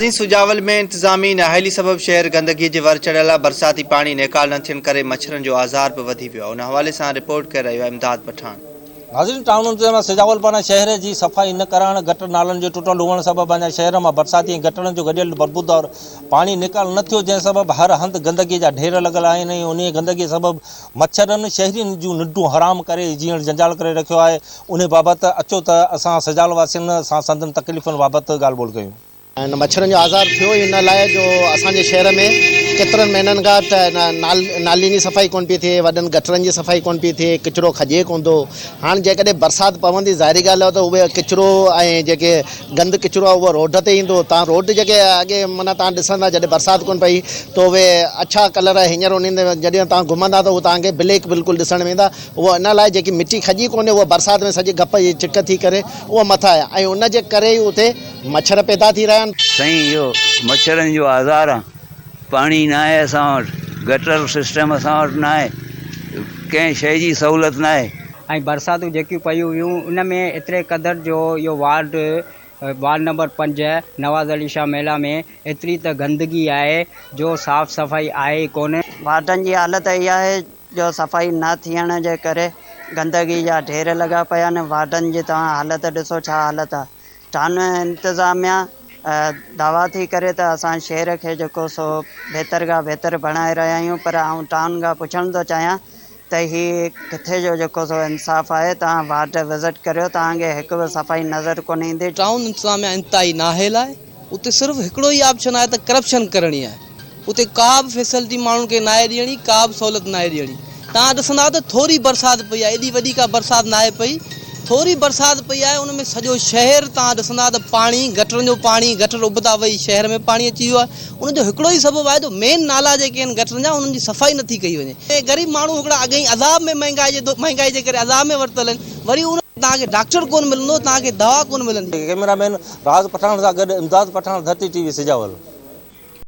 مرڪزي سجاول ۾ انتظامي نااهلي سبب شهر گندگي جي ور چڙهيل آهي، برساتي پاڻي نيڪال نه ٿيڻ ڪري مڇرن جو آزار به وڌي ويو آهي، ان حوالي سان رپورٽ ڪري رهيو آهي امداد پٺاڻ. ناظرين ٽائون انتظاميه سجاول پاران شهر جي صفائي نه ڪرائڻ، گٽر نالن جي ٽٽل هئڻ سبب اڃا شهر مان برساتي ۽ گٽرن جو گڏيل بربودار پاڻي نيڪال نه ٿيو جنهن سبب هر هنڌ گندگي جا ڍير لڳل آهن ۽ انهي گندگي سبب مڇرن شهرين جون ننڊون حرام ڪري جيئڻ جنجال ڪري رکيو آهي انهي بابت اچو ته اسان سجاول واسين سان سندن تڪليفن بابت ڳالهه ٻولهه ڪيون. انهن مڇرن جو آزار ٿيو ئي ان لاء جو اسان جي شهر ۾ ڪيترن مهينن کان ته نالين جي صفائي ڪونه پئي ٿئي، وڏن گٽرن جي صفائي ڪونه پئي ٿئي، ڪچرو کڄي ڪونه ٿو. هاڻ جيڪڏهن برسات پوندي ظاهري ڳالهه آهي ته اهو ڪچرو ۽ جيڪي گند ڪچرو آهي اهو روڊ تي ايندو. توهان روڊ جيڪي اڳي معنيٰ توهان ڏسندا جڏهن برسات ڪونه پئي ته اهي اڇا ڪلر هينئر انهن تي جڏهن توهان گهمندا ته اهو توهان کي بليڪ بلڪل ڏسڻ ۾ ايندا. اهو ان لاء جيڪي مٽي کڄي ڪونه اهو برسات ۾ سڄي گپ جي چڪ ٿي ڪري اهو مٿا ۽ ان جي ڪري ئي اتي مڇر پيدا ٿي رهيا آهن. سائين اهو مڇرن جو آزار آ پاڻي ناهي اسان وٽ گٽر سسٽم اسان وٽ ناهي ڪنهن شئي جي سهولت ناهي. ۽ برساتون جيڪيون پيون هيون ان ۾ ايتري قدر جو اهو وارڊ وارڊ نمبر پنج نواز علي شاهه محلا ۾ ايتري ته گندگي آهي جو صاف صفائي آهي ئي ڪونه. وارڊن جي حالت اهي آهي جو صفائي نه ٿيڻ جي ڪري گندگي جا ڍير لڳا پيا آهن وارڊن جي توهان حالت ڏسو ڇا حالت آ ٿانه انتظاميا دعويٰ ٿي ڪري ته اسان شهر کي جيڪو سو بهتر کان بهتر بڻائي رهيا آهيون پر آئون ٽائون کان پڇڻ ٿو چاهيان ته هي ڪٿي جو جيڪو سو انصاف آهي توهان وارڊ وزٽ ڪريو توهان کي هڪ به صفائي نظر ڪونه ايندي. ٽائون انتظاميا انتهائي نااهل آهي اتي صرف هڪڙو ئي آپشن آهي ته ڪرپشن ڪرڻي آهي. اتي ڪابه فيسلٽي ماڻهن کي ناهي ڏيڻي ڪابه سهولت ناهي ڏيڻي توهان ڏسندا ته ٿوري برسات پئي آهي ايڏي وڏي ڪا برسات ناهي پئي ٿوري برسات پئي آهي ان ۾ سڄو شهر توهان ڏسندا ته پاڻي گٽرن جو پاڻي گٽر ابتا وئي شهر ۾ پاڻي اچي ويو آهي ان جو هڪڙو ئي سبب آهي جو مين نالا جيڪي آهن گٽرن جا انهن جي صفائي نٿي ڪئي وڃي ۽ غريب ماڻهو هڪڙا اڳ ئي عذاب ۾ مهنگائي جي مهنگائي جي ڪري عذاب ۾ ورتل آهن وري ان توهان کي ڊاڪٽر ڪونه ملندو توهان کي دوا ڪونه ملندي. ڪئميرا مين راز پٺاڻ سان گڏ امداد پٺاڻ ڌرتي ٽي وي سجاول.